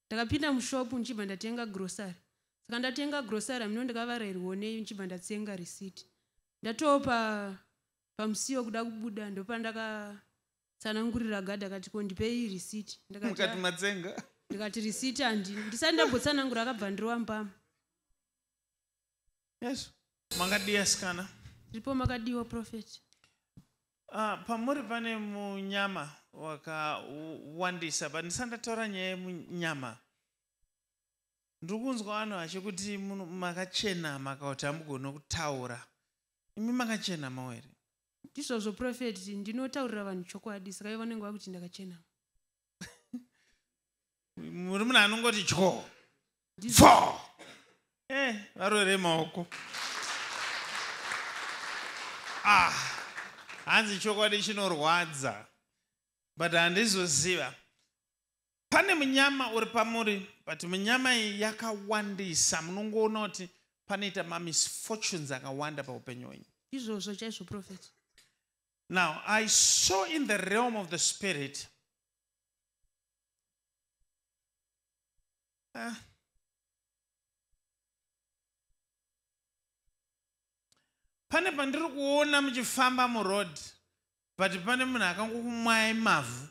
ndakapinda mushop ndichibva ndatenga grocery saka ndatenga grocery hamino ndikavarairwo nei ndichibva ndatsenga receipt ndatoo pa pamusiwo kuda kubuda ndopandakatsanangurira gadha akati ko ndipei receipt ndakati matsenga ndikati receipt handi ndisati ndambotsanangura akabva ndirova mbama Yes. Makadii asikana? Ndipo makadiwa prophet. Ah, pamuri pane munyama wakawandisa but ndisati ndataura nyaya yemunyama ndiri kunzwa vanhu vachikuti muno- makachenama kana kuti hamugone kutaura imi makachenamawo here Ndizvozvo prophet ndinotaurira vanhu chokwadi saka ivo vanenge vakuti ndakachena. muri munhu anongoti dyo fo eh, varore maoko ah, hanzi chokwadi chinorwadza but handizoziva pane munyama uri pamuri but munyama iyi yakawandisa munongoona kuti panoita mamisfortunes akawanda paupenyu wenyu izvozvo chaizvo profet Now, I saw in the realm of the spirit. Uh, pane pandiri kuona muchifamba muroad but pane munhu akangokumwai mavhu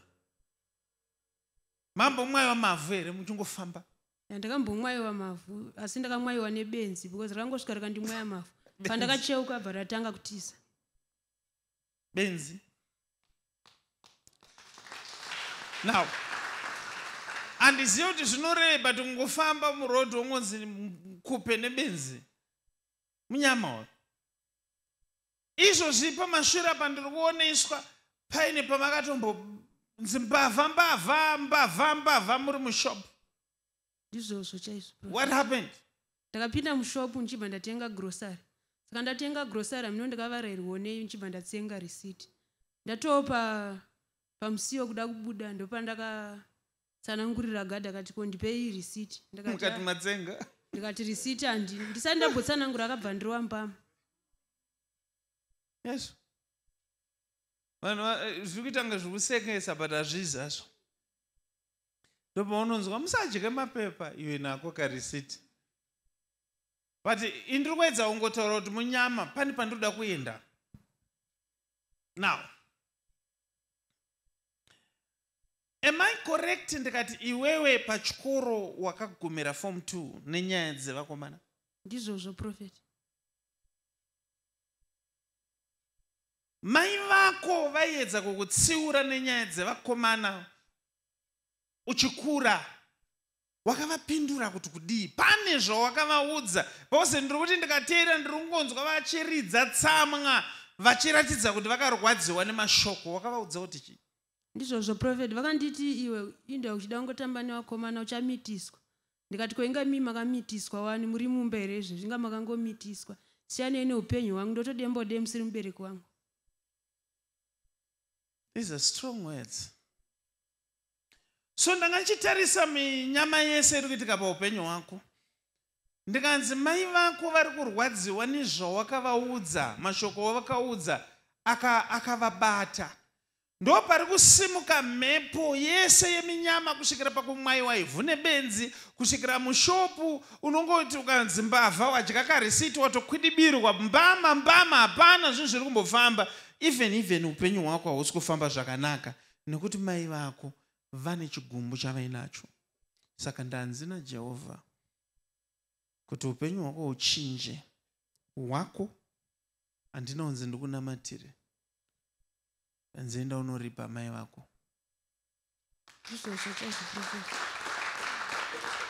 mambomwaiwa mavhu here muchingofamba ndakambomwaiwa mavhu asi ndakamwaiwa nebenzi because rakangosvika rakandimwaya mavhu pandakacheuka bva ratanga kutiza benzi now handizive kuti zvinoreba kuti kungofamba muroad wongonzi kupe nebenzi munyama uyo izvozvi pamashura pandiri kuoneswa paine pamakatombo nzi mbavha mbavha mbavha mbavha muri mushopu ndizvozvo chaizvo what happened ndakapinda mushopu ndichibva ndatenga grocery saka ndatenga grocery amino ndikavarairwo nei ndichibva ndatsenga receipt ndatoo pa pamusiwo kuda kubuda ndopa ndakatsanangurira gad akati ko ndipei receipt ndikati matsenga ndikati receipt handi ndisati ndambotsanangura akabva ndirowa mbama yes vanhu eh, zviri kuita kunge zviri kusekesa but hazvizi hazvo ndopaunonzwa musadye mapepa iwe nako karisiti but indiri kuedza ungotaura kuti munyama pani pandinoda kuenda now am i correct ndikati iwewe pachikoro wakagumira form two nenyaya dzevakomana ndizvozvo prophet mai vako vaiedza kukutsiura nenyaya dzevakomana uchikura wakavapindura kuti kudii pane zvawakavaudza bcause ndiri kuti ndikateera ndiri kungonzwa vachiridza tsamwa vachiratidza kuti vakarwadziwa nemashoko wakavaudza kuti chii ndizvozvo profet vakanditi iwe inda uchida kungotamba nevakomana uchamitiswa ndikati koinga mii makamitiswa wani muri mumba here izvezvi inga makangomitiswa siyanei neupenyu hwangu ndotodembode musiri mubereki wangu these are strong words so ndanga ndichitarisa minyama yese iri kuitika paupenyu hwako ndikanzi mai vako vari kurwadziwa nezvawakavaudza mashoko wavakaudza akavabata aka ndo pari kusimuka mhepo yese yeminyama kusvikira pakumwaiwa ivhu nebenzi kusvikira mushopu unongoti ukanzi mbavha wadya karisiti watokwidibirwa mbama mbama hapana zvinhu zviri kumbofamba even even upenyu hwako hausi kufamba zvakanaka nekuti mai vako vane chigumbu chavainacho saka ndanzi najehovha kuti upenyu hwako huchinje hwako handina kunzi ndikunamatire nzienda unoripa mai vako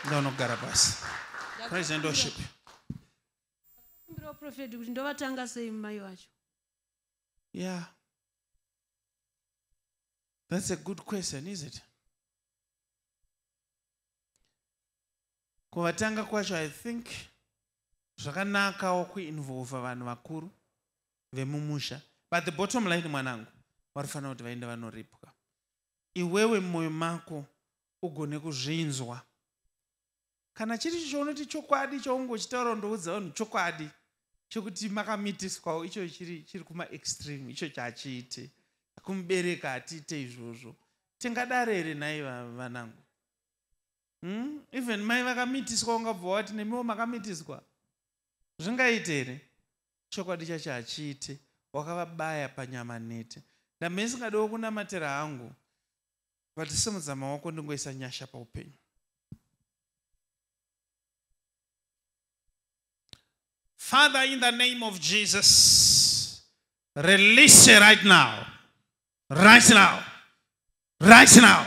ndaunogara pasi praise and worship profeti kuti ndovatanga sei mai vacho yeah that's a good question is it kuvatanga kwacho i think zvakanakawo kuinvolva vanhu vakuru vemumusha but the bottom line mwanangu vanofanira kuti vaende vanoripwa iwewe mumwoyo mako ugone kuzvinzwa kana chiri icho chaunoti chokwadi chaunge uchitaura undoudza vanhu chokwadi chokuti makamitiswawo icho chiri chiri kumaextreme icho chachiite kumubereka hatiite izvozvo tingadare here nhai vanangu hmm? even mai vakamitiswa ungabva wati nemiwo makamitiswa zvingaite here chokwadi chacho hachiite wakavabaya panyama nete ndamesingadiwo kunamatira hangu but simudza maoko ndingoisa nyasha paupenyu father in the name of jesus release her right now right now right now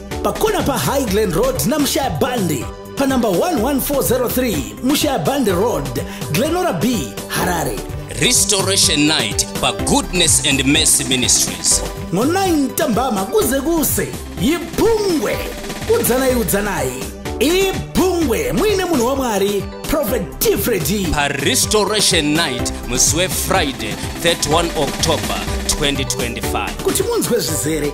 pakona pahighland road namushaya bandi panumber 11403 mushaya bandi road glenora b harare restoration night pagoodness and mercy ministries ngo-9 ntambama kuze kuse yibhungwe udzanai udzanai ibhungwe muine munhu wamwari prophet tifredi parestoration night musi wefriday 31 october 2025 kuti munzwe zvizere